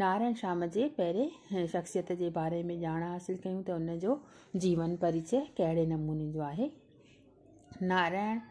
نارائڻ شام جي پهرين شخصيت جي باري ۾ ڄاڻ حاصل ڪيون ته ان جو جيون پريچئه ڪهڙي نموني جو آهي. نارائڻ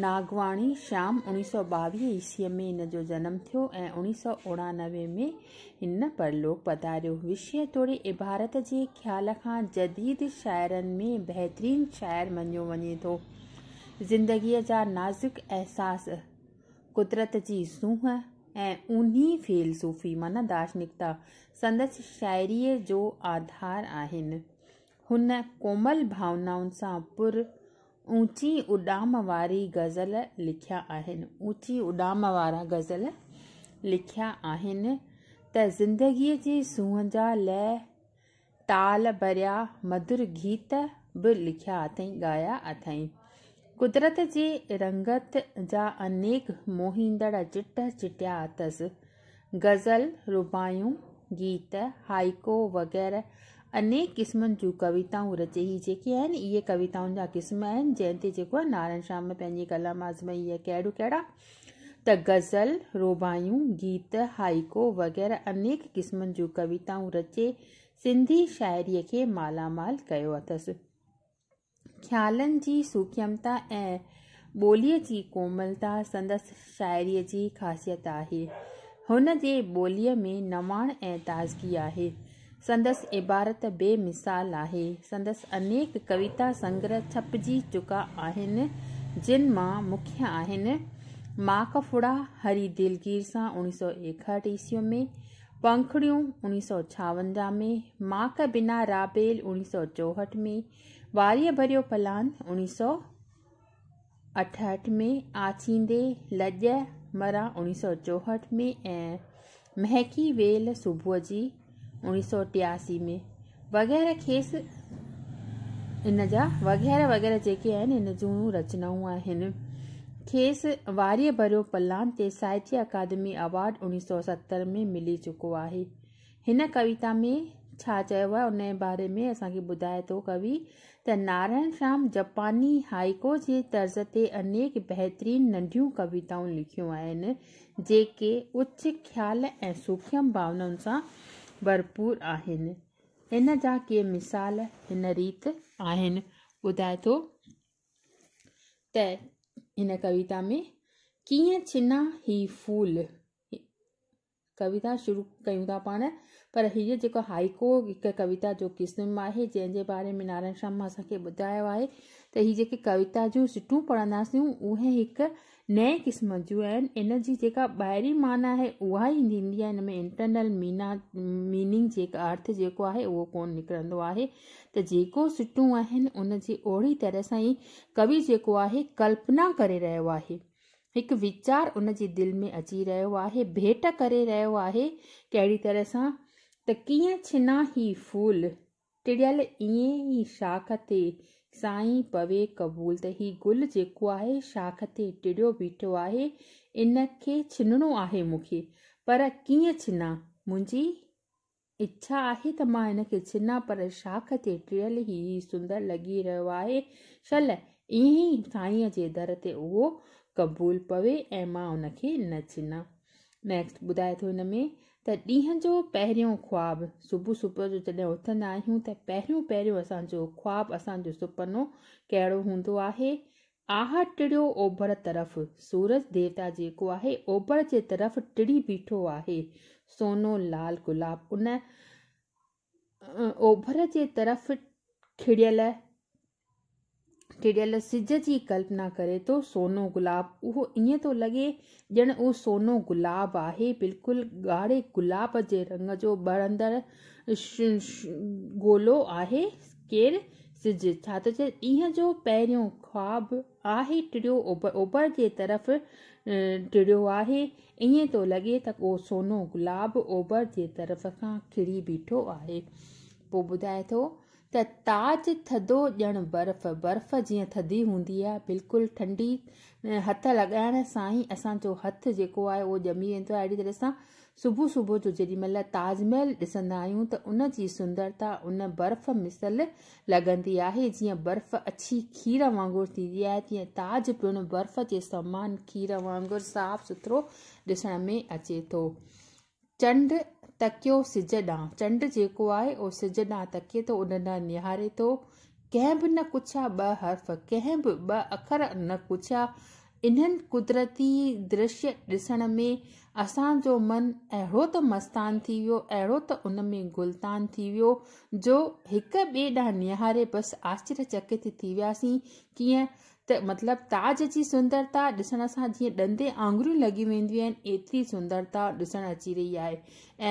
ناگواڻي شام اوڻيهه سؤ ٻاويهه عيسويء ۾ ان جو جنم ٿيو ۽ اوڻيهه سؤ اوڻانوي ۾ هن پرلوڪ پڌاريو. وشيه توڙي عبارت جي خيال کان جديد شاعرن ۾ بهترين شاعر مڃيو وڃي ٿو. زندگيء جا نازڪ احساس، قدرت جي سونهن ۽ اونهي فيلسوفي معنيٰ دارشنڪتا سندس شاعريء جو آڌار آهن. هن ڪومل ڀاونائن سان پر اوچي اڏام واري غزل لکيا آهن. اوچي اڏام وارا غزل لکيا آهن ته زندگيء جي سونهن جا لئه تال ڀريا مڌر گيت به لکيا اٿئي، ڳايا اٿئي. قدرت جي رنگت جا انيڪ موهيندڙ چٽ چٽيا اٿس. غزل، رباعيون، گيت، هائيڪو وغيره انيڪ قسمن جون ڪويتائون رچي. هي جيڪي آهن اهي ڪويتائن جا قسم آهن، جنهن تي جيڪو آهي نارائڻ شيام پنهنجي ڪلام آزمائي اهي ڪهڙو ڪهڙا ته غزل، رباعيون، گيت، هائيڪو وغيره انيڪ قسمن جون ڪويتائون رچي سنڌي شاعريء کي مالا مال ڪيو اٿس. خيالن جي سوکيمتا ۽ ٻوليء جي ڪوملتا سندس شاعريء جي خاصيت آهي. هن جي ٻوليء ۾ نواڻ ۽ تازگي آهي. سندس عبارت بي مثال آهي. سندس انيڪ ڪويتا سنگره ڇپجي چڪا آهن، جن مان مکيه آهن، ماڪ ڦڙا، هري دلگير سان، اڻيهه سؤ ايڪهٺ عيسوي ۾، پنکڙيون، اڻيهه سؤ ڇاونجاهه ۾، ماڪ بنا رابيل، اڻيهه سؤ چوهٺ ۾، واريء ڀريو پلان، اڻيهه سؤ. اٺهٺ ۾ آٿيندي لڄ مران اوڻيھ سؤ چوهٺ ۾ ۽ مهڪي ويل صبح جي اوڻيھ سؤ ٽياسي ۾ وغيره کيس ان جا وغيره وغيره جيڪي آهن ان جون رچنائون آهن کيس واريء ڀريو پلان تي ساهتيه اڪادمي اوارڊ اوڻيھ سؤ ستر ۾ ملي چڪو آهي هن ڪويتا ۾ ڇا چيو آهي ان جي باري ۾ اسان کي ٻڌائي ٿو ڪوي ته نارائڻ شيام جپاني هائيڪو جي طرز تي انيڪ بهترين ننڍيون ڪويتائون لکيون آهن جيڪي اچ خيال ۽ سوکيم ڀاونائن سان ڀرپور آهن ان جا ڪي مثال هن ريت آهن ٻڌائي ٿو ته هن ڪويتا ۾ ڪيئن ڇنا هي ڦول ڪويتا شروع ڪيون ٿا پاڻ پر هيء جيڪو هائيڪو هڪ ڪويتا جو قسم آهي جنهن جي باري ۾ نارائڻ شرما اسان کي ٻڌايو آهي ته هي جيڪي ڪويتا جون سٽون پڙهنداسيون اهي هڪ نئين قسم جون آهن ان جي جيڪا ٻاهري معنيٰ آهي اها ئي ٿيندي آهي ان ۾ انٽرنل مينا ميننگ جيڪا ارٿ جيڪو آهي اهو ڪون نڪرندو آهي ته جيڪو سٽون آهن ان جي اهڙي طرح سان ئي ڪوي جيڪو آهي ڪلپنا ڪري رهيو آهي هڪ ويچار ان جي دل ۾ اچي رهيو آهي، ڀيٽ ڪري رهيو آهي، ڪهڙي طرح سان ته ڪيئن ڇنا هي ڦول، ٽڙيل ائين ئي شاخ تي سائين پوي قبول ته هي گل جيڪو آهي شاخ تي ٽڙيو بيٺو آهي، ان کي ڇنڻو آهي مون کي، پر ڪيئن ڇنا؟ منهنجي. اڇا آهي ته مان هن کي ڇنان پر شاخ تي ٽڙيل هي سندر لڳي رهيو آهي شل ائين ئي سائينء جي در تي اهو قبول پوي ۽ مان هن کي نه ڇنان نيڪسٽ ٻڌائي ٿو هن ۾ ته ڏينهن جو پهريون خواب صبح صبح جو جڏهن اٿندا آهيون ته پهريون پهريون اسان جو خواب اسان جو سپنو ڪهڙو هوندو آهي آهه ٽڙيو اوڀر طرف، سورج ديوتا جيڪو آهي اوڀر جي طرف ٽڙي بيٺو آهي، سونو لال گلاب ان اوڀر جي طرف کڙيل ٽڙيل سج جي ڪلپنا ڪري ٿو، سونو گلاب اهو ائين ٿو لڳي ڄڻ اهو سونو گلاب آهي، بلڪل ڳاڙهي گلاب جي رنگ جو ٻرندڙ گولو آهي ڪير سج، ڇا ٿو چئي، ڏينهن جو پهريون خواب آهي ٽڙيو اوڀر جي طرف ٽڙيو آهي، ائين ٿو لڳي ته اهو سونو گلاب اوڀر جي طرف کان کڙي بيٺو آهي. پوء ٻڌائي ٿو ته تاج ٿڌو ڄڻ برف، برف جيئن ٿڌي هوندي آهي، بلڪل ٺنڊي، هٿ لڳائڻ سان ئي اسان جو هٿ جيڪو آهي اهو ڄمي ويندو آهي، اهڙي طرح سان صبح صبح جو جيڏي مهل تاج محل ڏسندا آهيون ته ان جي سندرتا ان برف مثل لڳندي آهي، جيئن برف اڇي کير وانگر ٿيندي آهي تيئن تاج پڻ برف جي سمان کير وانگر صاف سٿرو ڏسڻ ۾ اچي ٿو. چنڊ تڪيو سج ڏانهن، چنڊ جيڪو آهي اهو سج ڏانهن تڪي ٿو، ان ڏانهن نهاري ٿو، ڪنهن به نه ڪڇيا ٻه حرف، ڪنهن به ٻه اکر نه ڪڇيا، انهن قدرتي درشي ڏسڻ ۾ اسان جو من اهڙو ته مستان ٿي ويو، اهڙو ته ان ۾ گلتان ٿي ويو جو هڪ ٻئي ڏانهن نهاري بس آشچريچڪت ٿي وياسين، ڪيئن ته مطلب تاج جي سندرتا ڏسڻ سان جيئن ڏندي آڱريون لڳي وينديون آهن ايتري سندرتا ڏسڻ اچي رهي آهي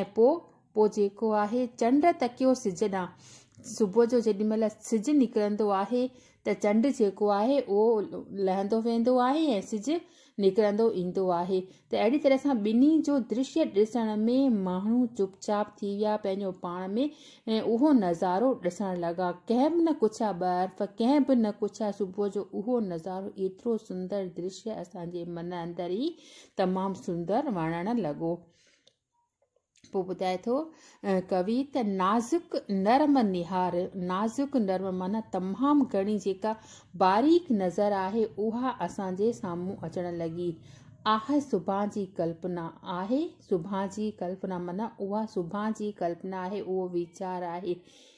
۽ پوء پوء جيڪو آهي چنڊ تڪيو سج ڏانهن صبح جو جيڏي مهل سج نڪرندو آهي ته چنڊ جيڪو آهي اهو لهندو ويندو آهي ۽ سج نڪرندو ايندو آهي ته اهڙي طرح سان ٻنهي جو درشي ڏسڻ ۾ ماڻهو چپ چاپ ٿي ويا پنهنجو پاڻ ۾ اهو نظارو ڏسڻ لڳا ڪنهن به نه ڪڇيا ٻرف ڪنهن به نه ڪڇيا صبح جو اهو نظارو ايترو سندر درشي اسان جي من اندر ئي تمام سندر وڻڻ لڳو پوء ٻڌائي ٿو ڪوي ته نازڪ نرم نهار نازڪ نرم معنی تمام گهڻي جيڪا باريڪ نظر آهي اها اسان جي سامهون اچڻ لڳي آهي سڀان جي ڪلپنا آهي سڀان جي ڪلپنا معنی اها سڀان جي ڪلپنا آهي اهو ويچار آهي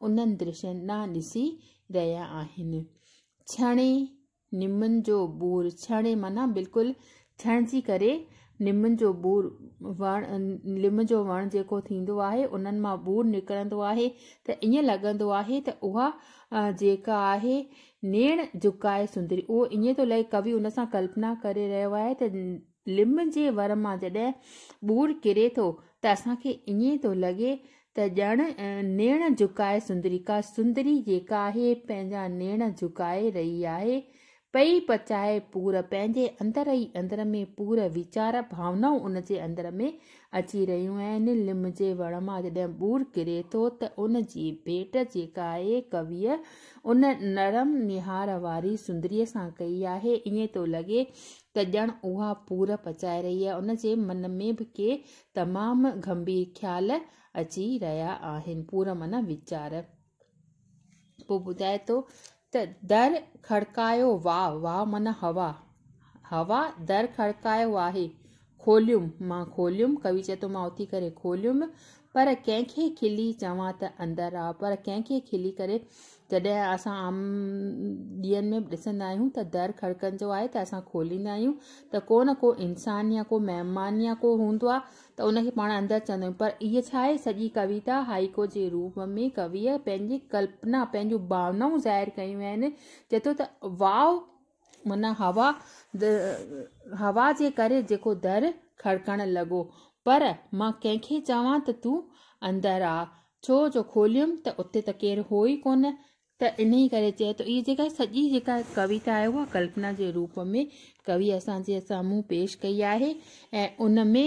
انهن درشين ڏانهن ڏسي رهيا آهن. ڇڻي نمن جو ٻور، ڇڻي معنيٰ بلڪل ڇڻجي ڪري نمن جو ٻور وڻ نم جو وڻ جيڪو ٿيندو آهي انهن مان ٻور نڪرندو آهي ته ائين لڳندو آهي ته اها جيڪا آهي نيڻ جهڪائي سندري اهو ائين ٿو لڳي ڪوي ان سان ڪلپنا ڪري رهيو آهي ته لم جي ور مان جڏهن ٻور ڪري ٿو ته اسان کي ائين ٿو لڳي ته ڄڻ نيڻ جهڪائي سندريڪا، سندري جيڪا آهي پنهنجا نيڻ جهڪائي رهي آهي، پئي پچائي پور پنهنجي اندر ئي اندر ۾ پور ويچار ڀاونائون ان جي اندر ۾ اچي رهيون آهن، لم جي وڻ مان جڏهن ٻور ڪري ٿو ته ان جي ڀيٽ جيڪا آهي ڪويء ان نرم نهار واري سندريء سان ڪئي آهي ائين ٿو لڳي ته ڄڻ اها پور پچائي رهي آهي، ان جي من ۾ به ڪي تمام گنڀير خيال اچي رهيا آهن. پور معنيٰ ويچار. پوء ٻڌائي ٿو ته در کڙڪايو واء، واء معنيٰ هوا، هوا در کڙڪايو آهي، کوليم، مان کوليم، ڪوي چئي ٿو مان اٿي ڪري کوليم، پر ڪنهن کي کلي چوان ته اندر آء، پر ڪنهن کي کلي ڪري جڏهن اسان عام ڏينهن ۾ به ڏسندا آهيون ته در کڙڪندو آهي ته اسان کوليندا آهيون ته ڪو نه ڪو انسان يا ڪو مهمان يا ڪو هوندو آهي ته ان کي پاڻ اندر چوندا آهيون پر هيء ڇا آهي سڄي ڪويتا هائيڪو جي روپ ۾ ڪويء پنهنجي ڪلپنا پنهنجون ڀاونائون ظاهر ڪيون آهن جيترو ته واء ان هوا هوا جي ڪري جيڪو در کڙڪڻ لڳو. پر مان ڪنهن کي چوان ته تون اندر آ. ڇو جو کوليم ته اتي ته ڪير هو ئي ڪونه. ته انهيء ڪري چئي ٿو. اهي جيڪا سڄي جيڪا ڪويتا آهي اها ڪلپنا جي روپ ۾ ڪويء اسان جي سامهون پيش ڪئي آهي ۽ ان ۾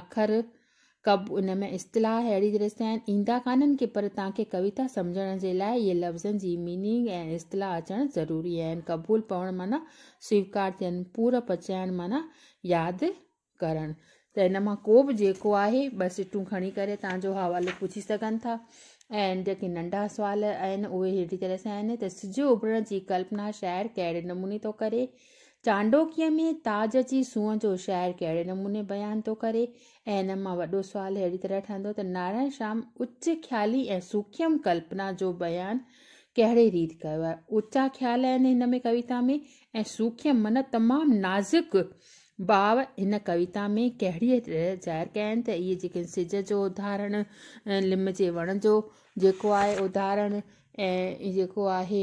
اکر، ڪب، ان ۾ اصطلاح اهڙي طرح سان آهن، ايندا ڪانهن ڪي پر توهان کي ڪويتا سمجهڻ جي لاء اهي لفظن جي ميننگ ۽ اصطلاح اچڻ ضروري آهن، قبول پوڻ معنيٰ سويڪار ٿيڻ، پور پچائڻ معنيٰ ياد ڪرڻ. ته ان مان ڪو به جيڪو آهي ٻه سٽون کڻي ڪري توهان جو حوالو پڇي سگهن ٿا ۽ جيڪي ننڍا سوال آهن اهي اهڙي طرح سان آهن ته سج اڀرڻ جي ڪلپنا شاعر ڪهڙي نموني ٿو ڪري؟ چانڊوڪيء ۾ تاج جي سونهن جو شعر ڪهڙي نموني بيان ٿو ڪري؟ ۽ ان مان وڏو سوال اهڙي طرح ٺهندو ته نارائڻ شام اچ خيالي ۽ سوکيم ڪلپنا جو بيان ڪهڙي ريت ڪيو آهي؟ اچا خيال آهن هن ۾ ڪويتا ۾ ۽ سوکيم من تمام نازڪ ڀاء هن ڪويتا ۾ ڪهڙيء طرح ظاهر ڪيا آهن ته اهي جيڪي سج جو اڌارڻ، لم جي وڻ جو جيڪو آهي اڌارڻ ۽ جيڪو آهي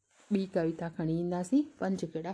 ٻي ڪويتا کڻي اينداسين پنج ڪڙا.